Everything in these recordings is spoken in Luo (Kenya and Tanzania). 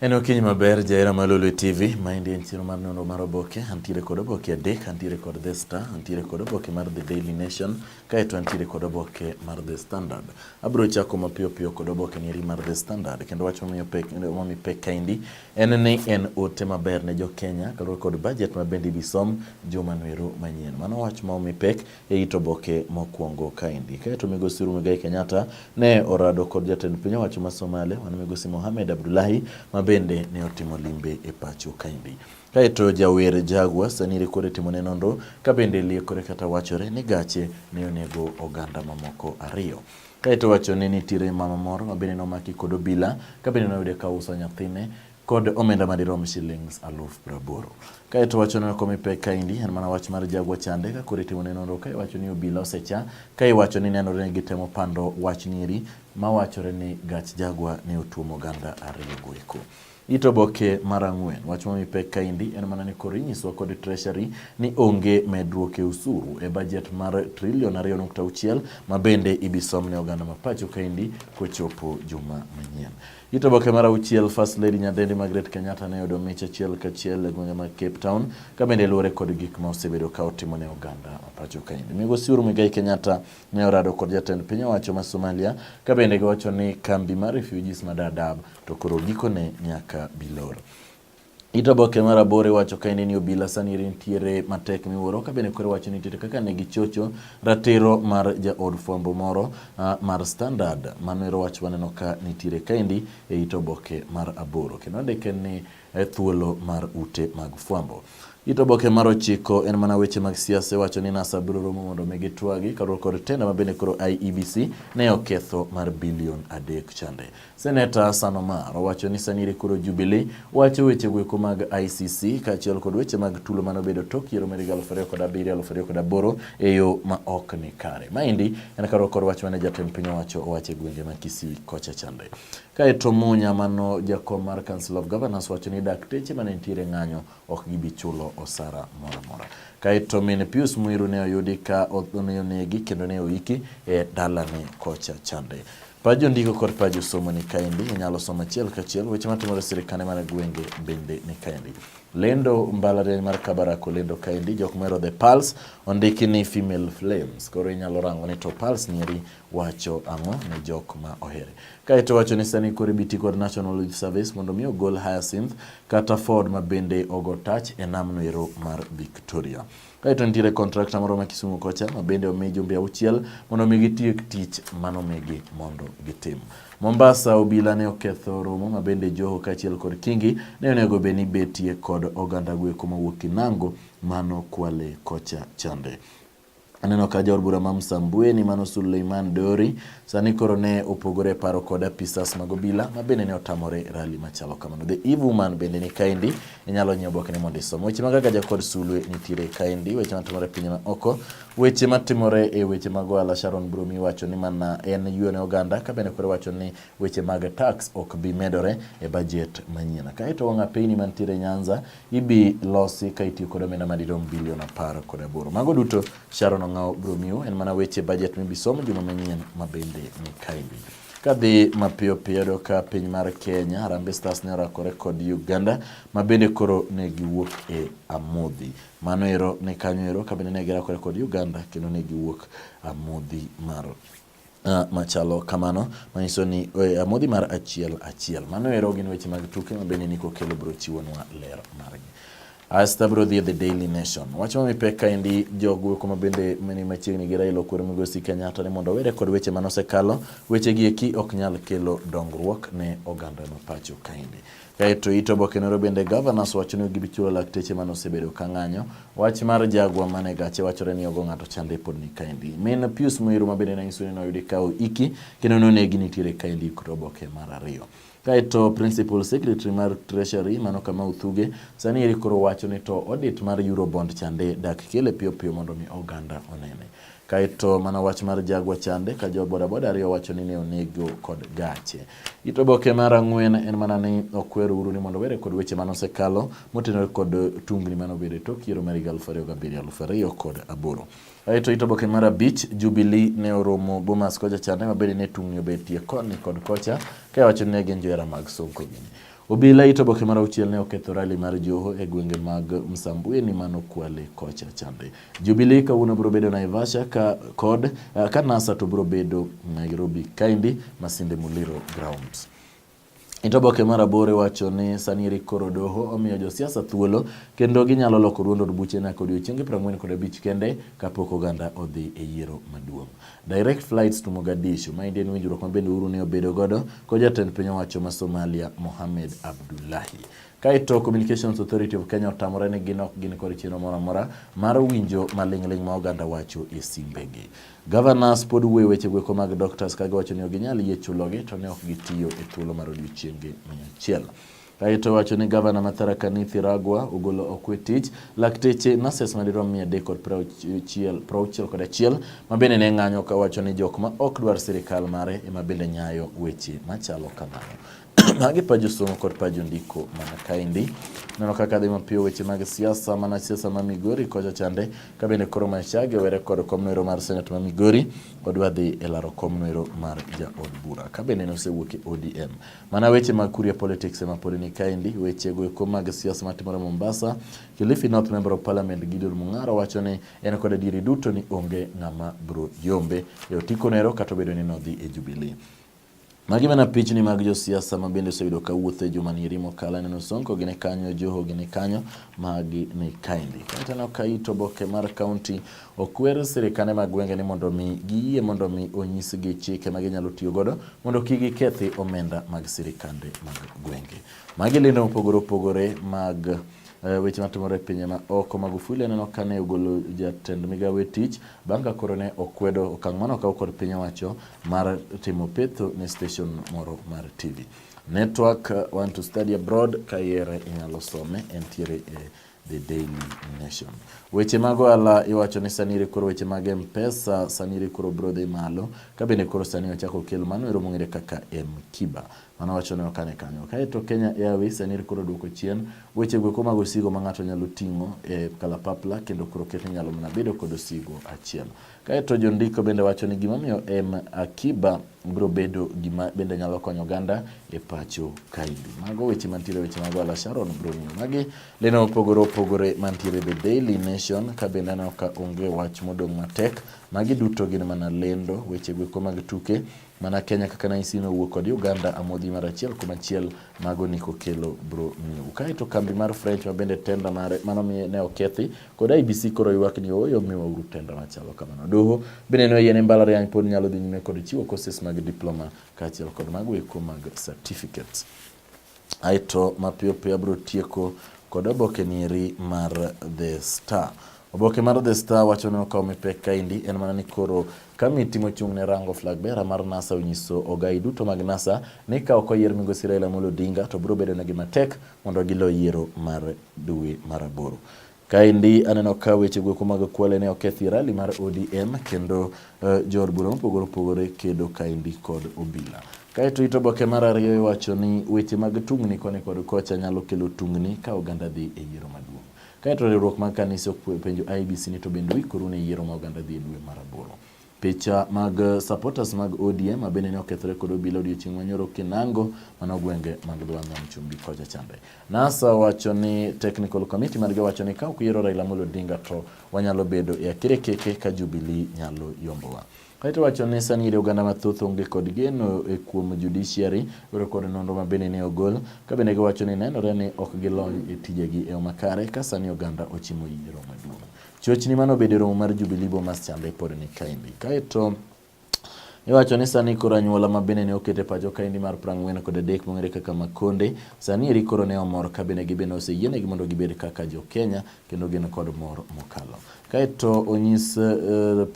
En okinyi maber jahera ma Lolwe TV, maendi en chiro mar nonro mar oboke. Antiere kod oboke adek, antiere kod The Star, antiere kod oboke mar The Daily Nation, kaeto antiere kod oboke mar The Standard. Abiro chako mapiyo piyo kod oboke nieri mar The Standard, kendo wach momiyo pek, momi pek kaendi en ni en ote maber ne jo Kenya kaluwore kod budget ma bende ibisom juma noero manyien. Mano wach ma omi pek e it oboke mokwongo kaendi. Kaeto migosi Muigai Kenyatta ne orado kod jatend piny owacho ma Somalia mano migosi Mohamed Abdullahi ma bende ne otimo limbe e pacho kaendi. Kaeto jawer Jagwa sani rekore timone nonro ka bende liekore kata wachore ni gache ne onego oganda mamoko ariyo. Kaeto wacho ni nitiere mama moro ma bende nomaki kod obila ka bende noyude ka uso nyathine kod omenda madirom shillings aluf praboro. Kae to wacho neno komi pek kaendi en mana wach mar jagwa chande ka kore timo neno ka iwacho ni obila osecha ka iwacho ni nenore ni gitemo pando wach nieri ma wachore ni gach jagwa ne otuomo ganda ariyo goeko. Ito boke mar ang'wen wach momi pek kaendi en mana ni koro inyiswa kod treasury ni onge medruok e usuru e bajet mar trilion ariyo nukta auchiel ma bende ibisomne oganda ma pacho kaendi kochopo juma manyien. It oboke mar auchiel First Lady Nyadendi Margaret Kenyatta ne oyudo mich achiel kachiel e gwenge mag Cape Town ka bende luwore kod gik ma osebedo ka otimo ne oganda ma pacho kaendi. Migosi Uhuru Muigai Kenyatta ne orado kod jatend piny owacho ma Somalia ka bende giwacho ni kambi mar refugees ma Dadaab to koro gikone nyaka bilor. It oboke mar aboro iwacho kaende ni obila sani nitiere matek miwuoro ka bende koro iwacho nitiere kaka ne gichocho ratiro mar jaod fwambo moro uh, mar standard mano ero wach waneno ka nitiere kaendi e it oboke mar aboro kendo andike ni e thuolo mar ute mag fwambo It oboke mar ochiko en mana weche mag siasa iwacho ni NASA biro romo mondo mi gitwagi kaluwore kod tenda ma bende koro IEBC ne oketho mar bilion adek chande. Seneta Sanomar owacho ni Sanire koro Jubilee wacho weche gweko mag ICC kaachiel kod weche mag tulo mane obedo tok yiero mar higa 2007-2008 e yo ma ok ni kare. Maendi en karo kod wach mane jatend piny owacho owacho e gwenge ma Kisii kocha chande. Kaeto Munya mano jakom mar Council of Governors wacho ni dakteche mane nitiere ng'anyo ok gibi chulo osara moro amora. Kaeto min Pius Mwiru ne oyudi ka onegi kendo ne oiki e dalane kocha chande. Paj jondiko kod paj josomo ni kaendi, inyalo somo achiel kachiel weche matimore sirikande mar gwenge bende ni kaendi. Lendo mbalariany mar Kabarak olendo kaendi, jok mero The Pulse ondiki ni Female Flames, koro inyalo rango ni to Pulse nieri wacho ang'o ne jok ma ohere. Kaeto wacho ni sani koro ibiti kod National Youth Service mondo mi ogol Hyacinth kata Ford ma bende ogo touch e namno ero mar Victoria. Kaeto nitiere kontrakta moro ma Kisumu kocha ma bende omi jumbe auchiel mondo omi gitiek tich manomigi mondo gitim. Mombasa obila ne oketho romo ma bende Joho kaachiel kod Kingi ne onego bed ni betie kod oganda gweko mawuok Kinango mano kwale kocha chande. Aneno ka jaod bura ma Msambweni mano Suleiman Dori sani koro ne opogore paro kod apisas mag obila ma bende ne otamore rali machalo kamano. The Eve Woman bende ni kaendi inyalo nyiewo obokene mondo isom weche mag agaja kod sulwe nitiere kaendi weche matimore e piny ma oko weche matimore e weche mag ohala sharon brumi wacho ni mana en yuo ne oganda ka bende koro wacho ni weche mag tax ok bi medore e bajet manyien kaeto wang' apeyni mantiere nyanza ibi losi ka itiyo kod omenda madirom bilion apar kod aboro mago duto sharon ong'awo brumiu en mana weche bajet mibisom juma manyien mabende ni kaendi Kadhi mapiyo piyo yado ka piny mar Kenya, Harambee Stars ne orakore kod Uganda ma bende koro ne giwuok e amodhi. Mano ero ne kanyo ero ka bende ne girakore kod Uganda kendo ne giwuok amodhi mar Uh, machalo kamano manyiso ni eh, amodhi mar achiel achiel. Mano ero gin weche mag tuke ma bende Niko Kelo biro chiwonwa ler margi. Asta bro dhi e The Daily Nation. Wach ma mipek kaendi jogo kuma bende mani machiegni gi Raila Okwero Migosi Kenyatta ni mondo owere kod weche mane osekalo, weche gi eki ok nyal kelo dongruok ne oganda ma pacho kaendi. Kaeto ito oboke noro bende governors wacho ni gibi chulo lakteche mane osebedo ka ng'anyo. Wach mar jagwa mane gache wachore ni ogo ng'ato chande pod ni kaendi. Min Pius Muiru ma bende nanyiso ni noyudi ka oiki kendo nonegi nitiere kaendi kod oboke mar ariyo. Kaeto Principal Secretary mar Treasury mano kama uthuge sani eri koro wacho ni to audit mar Eurobond chande dak kele piyo piyo mondo mi oganda onene. Kaeto mana wach mar jagwa chande ka jo bodaboda ariyo wacho ni ne onego kod gache. Ito boke mar ang'wen en mana ni okwer uru ni mondo were kod weche mane osekalo motenore kod tungni mane obedo e tok yiero mar higa aluf ariyo gabiriyo aluf ariyo kod aboro. Aeto it oboke mar abich, Jubilee ne oromo Bomas kocha chande ma bende ne tung'ni obetie koni kod kocha ka wacho ni ne gin johera mag Sonko gini. Obila it oboke mar auchiel ne oketho rali mar Joho e gwenge mag Msambweni mano Kwale kocha chande. Jubilee kawuono biro bedo Naivasha ka kod eh, ka NASA to biro bedo Nairobi kaendi Masinde Muliro Grounds. E to oboke mar aboro iwacho ni sani eri koro doho omiyo josiasa thuolo kendo ginyalo loko duond od buche nyaka odiechienge piero ang'wen kod abich kende kapok oganda odhi e yiero maduong'. Direct flights to Mogadishu ma en winjruok ma bende Uhuru ne obedo godo kod jatend piny owacho ma Somalia Mohamed Abdullahi. Kaito Communications Authority of Kenya otamore ni gin ok gin kod chenro moro amora mar winjo maling'ling' ma oganda wacho e simbegi. Governors pod wuoyo wechego eko mag doctors ka giwacho ni ok ginyal yie chulogi to ne ok gitiyo e thuolo mar odiechienge mia achiel. Kaeto wacho ni gavana ma Tharaka Nithi Ragwa ogolo okwe tich lakteche nurses madirom mia adek kod prauchiel prauchiel kod achiel ma bende ne ng'anyo ka wacho ni jok ma ok dwar sirikal mare ema bende nyayo weche machalo kamano. Magi pajo somo kod pajo ndiko mana kaendi. Neno kaka dhi mapiyo weche mag siasa mana siasa ma Migori kocha chande ka bende koro Machage were kod komnoero mar senate ma Migori odwa dhi e laro komnoero mar jaod bura ka bende nosewuok e ODM. Mana weche mag Kuria politics ema pod ni kaendi weche go eko mag siasa matimore Mombasa. Kilifi North Member of Parliament Gideon Mung'aro wacho ni en kod adieri duto ni onge ng'ama bro yombe e otiko nero kata obedo ni nodhi e Jubilee. Magi mana pichni mag josiasa ma bende oseyudo ka wuotho e juma ni rimo kala neno Sonko gine kanyo, Joho gine kanyo, magi ni kaendi. Kata ka ito boke mar kaunti okwer sirikande mag gwenge ni mondo mi giyie mondo mi onyisgi chike ma ginyalo tiyo godo mondo kik gikethi omenda mag sirikande mag gwenge. Magi lendo mopogore opogore mag Eh, weche matimore e pinje ma oko. Magufuli aneno ka ne ogolo jatend migawo e tich bang' ka koro ne okwedo okang' mane okaw kod piny owacho mar timo petho ne station moro mar TV. Network eh, want to study abroad ka ihere inyalo some entiere e The Daily Nation. Weche mag ohala iwacho ni sani iri koro weche mag M-Pesa sani iri koro biro dhi malo ka bende koro sani ochako okel mano ero mong'ere kaka M-Kiba. Mano wacho ne okane kanyo. Kae to Kenya Airways en koro duoko chien weche gweko mag osigo ma ng'ato nyalo ting'o e kalapapla kendo koro ket nyalo mana bedo kod osigo achiel. Kae to jondiko bende wacho ni gimomiyo M Akiba biro bedo gima bende nyalo konyo oganda e pacho kaendi. Mago weche mantiere weche mag Wala Sharon biro ng'iyo magi leno opogore opogore mantiere The Daily Nation ka bende aneno ka onge wach modong' matek. Magi duto gin mana lendo weche gweko mag tuke Mana Kenya kaka naisi nowuok kod Uganda amodhi mar achiel kuom achiel mago ni kokelo bro miu. Kae to kambi mar French ma bende tenda mare mano mi ne okethi kod IBC koro ywak ni oyo miwa uru tenda machalo kamano. Doho bende ne oyie ne mbalariany pod nyalo dhi nyime kod chiwo courses mag diploma kaachiel kod mago eko mag certificates. Aeto mapiyo piyo abiro tieko kod oboke nieri mar The Star. Oboke mar The Star wacho ni okawo mipek kaendi en mana ni koro Kamiti mochung' ne rango flag bearer mar NASA onyiso ogai duto mag NASA ni ka ok oyier migosi Raila Amolo Odinga to biro bedo negi matek mondo gilo yiero mar dwe mar aboro. Kaendi aneno ka weche goeko mag kwale ne okethi e rali mar ODM kendo uh, jood bura mopogore opogore kedo kaendi kod obila. Kaeto it oboke mar ariyo iwacho ni weche mag tungni koni kod kocha nyalo kelo tungni ka oganda dhi e yiero maduong'. Kaeto riwruok mag kanise penjo IBC ni to bende uikoru ne yiero ma oganda dhi e dwe mar aboro. Picha mag eh, supporters mag ODM ma bende ne okethore kod obila odiochieng' manyoro Kinango mano gwenge mag dho nam chumbi kocha chande. NASA wacho ni technical committee margi wacho ni ka ok yiero Raila Amolo Odinga to wanyalo bedo e akerekeke ka Jubilee nyalo yombowa. Kaeto wacho ni sani iri oganda mathoth onge kod geno e kuom judiciary oro kod nonro ma bende ne ogol ka bende giwacho ni nenore ni ok gilony e tijegi e yo makare ka sani oganda ochimo yiero maduong'. Chochni mane obedo e romo mar Jubilee Bomas chande pod ni kaendi. Kaeto Iwacho ni sani koro anyuola ma bende ne okete pacho kaendi mar prang'wen kod adek mong'ere kaka Makonde, sani eri koro ne omor ka bende gibende oseyienegi mondo gibed kaka jo Kenya kendo gin kod mor mokalo. Kaeto onyis uh,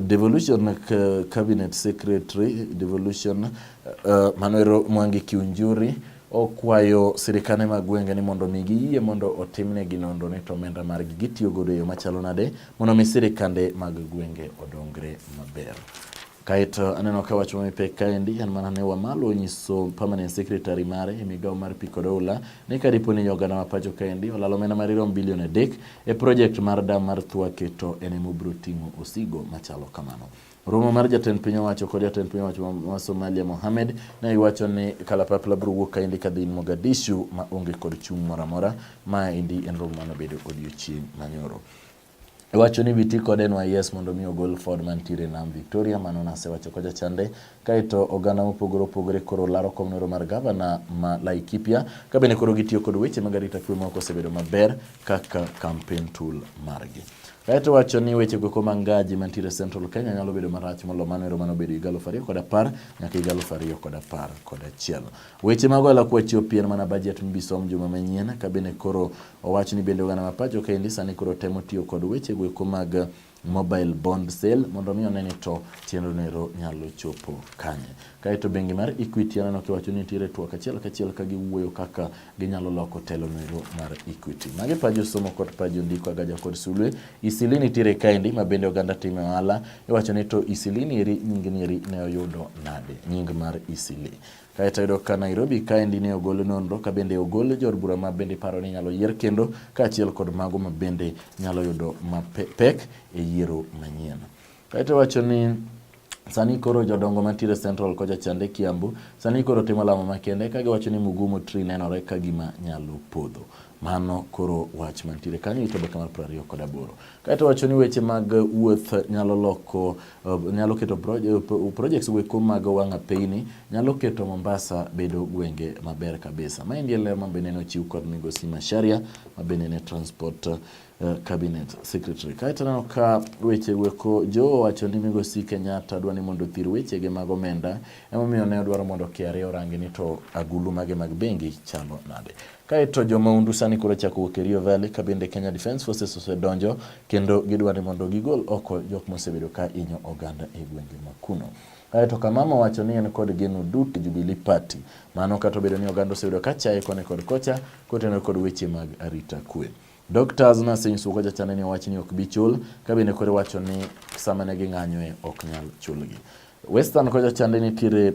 Devolution Cabinet Secretary Devolution uh, Manuel Mwangi Kiunjuri okwayo sirikane mag gwenge ni mondo mi giyie mondo otimnegi nonro ni to omenda margi gitiyo godo e yo machalo nade mondo mi sirikande mag gwenge odongre maber. Kaeto aneno ka wach mamipe kaendi en mana ne Wamalo onyiso permanent secretary mare e migawo mar pi kod oula ni ka dipo ni oganda ma pacho kaendi olalo omenda madirom bilion adek E project mar dam mar Thwake to en ema obiro ting'o osigo machalo kamano. Romo mar jatend piny owacho kod jatend piny owacho ma Somalia Mohamed ne iwacho ni kalapapla biro wuok kaendi kadhi Mogadishu ma onge kod chung' moro amora. Ma endi en romo mane obedo odiochieng' manyoro. Iwacho ni biti kod NYS mondo mi ogol Ford mantiere nam Victoria, mano nasewacho kocha chande. Kaeto oganda mopogore opogore koro laro kom nero mar gavana ma Laikipia ka bende koro gitiyo kod weche mag arita kwe ma ok osebedo maber kaka campaign tool margi. Kaeto wacho ni weche go koma ngaji mantiere Central Kenya nyalo bedo marach molo mano ero mano bedo higa aluf ariyo kod apar nyaka higa aluf ariyo kod apar kod achiel. Weche mago ala kwa chiwo pien mana bajet mbisom juma manyien ka bende koro owach ni bende oganda ma pacho kaendi sani koro temo tiyo kod weche go eko mag mobile bond sale mondo mi one ni to chenro nero nyalo chopo kanye. Kaeto bengi mar Equity aneno kiwacho ni nitiere twak achiel kachiel ka giwuoyo kaka ginyalo loko telo nero mar Equity. Mage pajo somo kod pajo ndiko agaja kod sulwe. Isili nitiere kaendi ma bende oganda time ohala. Iwacho ni to Isili neri nyingi neri ne oyudo nade? Nying mar Isili. Kaeto yudo ka Nairobi kaendi ne ogol nonro ka bende ogol jor bura ma bende paro ni nyalo yier kendo kaachiel kod mago ma bende nyalo yudo mapek e yiero manyien. Kaeto wacho ni Sani koro jodongo mantiere Central kocha chande Kiambu sani koro timo lamo makende ka giwacho ni Mugumu Tree nenore ka gima nyalo podho. Mano koro wach mantiere kanyo ito baka mar piero ariyo kod aboro. Kaeto wacho ni weche mag wuoth nyalo loko eh, nyalo keto eh, projects weko mag wanga peyni nyalo keto Mombasa bedo gwenge maber kabisa. Ma endie ler mabende ne ochiw kod migosi Masharia mabende ne transport uh, cabinet secretary. Kaeto neno ka weche weko jo wacho ni migosi Kenyatta dwani mondo thir weche ge mag omenda emomiyo ne odwaro mondo KRA orangi ni to agulu mage mag bengi chalo nade. Kae to jo maundu sani koro chako wuok e Rio Valley ka bende Kenya Defence Forces osedonjo kendo gidwa ni mondo gigol oko jok mosebedo ka inyo oganda e gwenge ma kuno. Kae to Kamama wacho ni en kod geno duto e Jubilee Party. Mano kata obedo ni oganda osebedo ka chaye koni kod kocha kotenore kod weche mag arita kwe. Dr. Azna Singh Suko jachane ni owacho ni ok bi chul ka bende koro wacho ni sama ne ging'anyoe ok nyal chulgi. Western kocha chande nitiere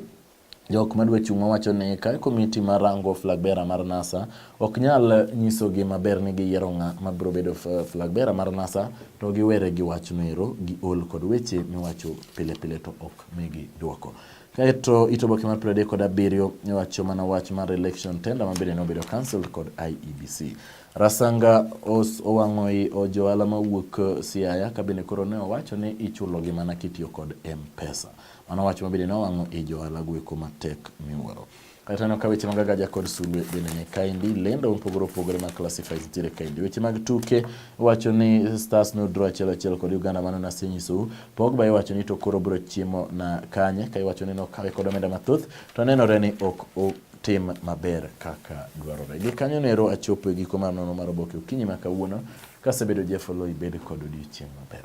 Jok madwa chung' mawacho ni ka komiti ma rango flag bearer mar NASA ok nyal nyisogi maber ni giyiero ng'a ma biro bedo flag bearer mar NASA to giwere gi wachno ero giol kod weche miwacho pile pile to ok migi dwoko. Kaeto ito boke mar piero adek kod abiriyo wacho mana wach mar election tender ma bende nobedo cancelled kod IEBC. Rasanga os owang'oi ojohala mawuok Siaya kabende koro ne owacho ni ichulogi mana kitiyo kod M-Pesa. Mano wach ma bende nowang'o i johala gweko matek miwuoro. Kata taneno ka weche mag agaja kod sulwe bende ni kaendi, lendo mopogore opogore mag classifies nitiere kaendi. Weche mag tuke wacho ni Stars no draw achiel achiel kod Uganda mano nasenyisou. Pogba iwacho ni to koro biro chiemo na kanye, ka iwacho ni nokawe kod omenda mathoth to nenore ni ok tim maber kaka dwarore. Gi kanyo nero achopo e giko mar nono mar oboke okinyi ma kawuono kasebedo Jeff Oloi bed kod odiochieng' maber.